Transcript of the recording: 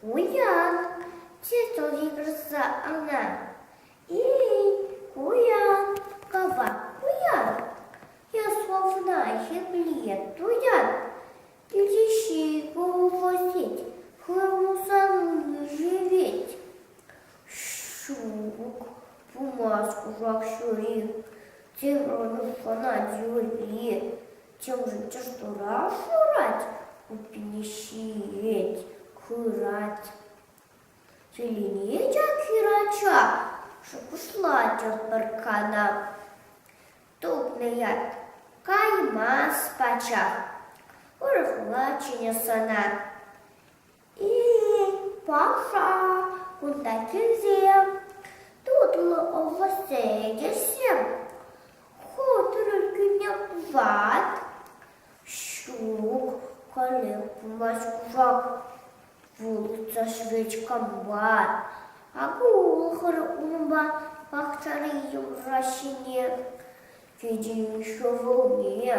Куян, чечек йышса ӑна. И-и, куян, кӑвак куян. Ясковна хирлие туян. Кӳлӗҫи колхозить, хырмусану живет. Ҫук, пымасть кушак ҫури, тырӑн хӑнать юри. Чӑм-чӑш тура шурать, купине ҫиет, хырать. Киленет ҫакхир ача, шухӑшлатех пӗр канав. Тупнӑ ят, каймас пачах, урӑхла чӗнӗ сана. Паха кунта килсе тутлӑ овощсем ӗҫӗҫ. Хутӑрӗ кӳнӗ ват, ҫук, калеплмаҫ кушак вулӑса шведькам бар. Акӑ улӑхӑр унпа пахчари йӑмра ҫине, тете ҫӑвӑлне.